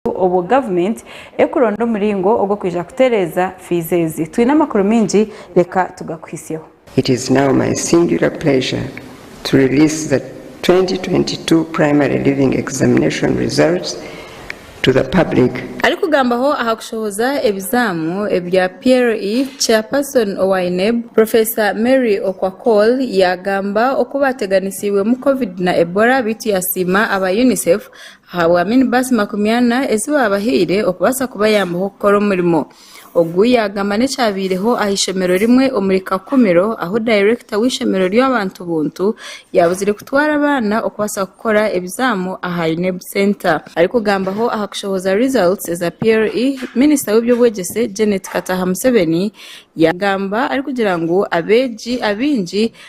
obwo gavumenti erikuronda omuringo ogw'okwija kutereeza fiizi ezi. Twine amakuru maingi, reka tugakuhisyeho. It is now my singular pleasure to release the twenty twenty two Primary Leaving Examination results to the public. Arikugambaho aha kushohoza ebizaamu ebya PLE, Chairperson owa UNEB, Professor Mary Okwakol yaagamba oku baateganisiibwemu Covid na Ebola beitu yaasiima aba UNICEF Ahabwa minibaasi makumi ana ezi baabahaire okubaasa kubayambaho kukora omurimo. Ogu yaagamba n'ekyabaireho aha ishomero rimwe omuri Kakumiro ahu dayirekita w'eishomero ry'abantu buntu yaabuzire kutwara abaana okubaasa kukora ebizaamu aha UNEB Centre. Arikugambaho aha kushohoza results eza PLE, minisita w'eby'obwegyese Janet Kataha Museveni yaagamba arikugira ngu abeegi abaingi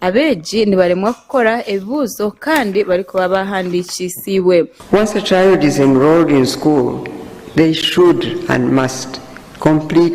Abeegi nibaremwa kukora ebibuuzo kandi barikuba baahandiikiisiibwe. Once a child is enrolled in school, they should and must complete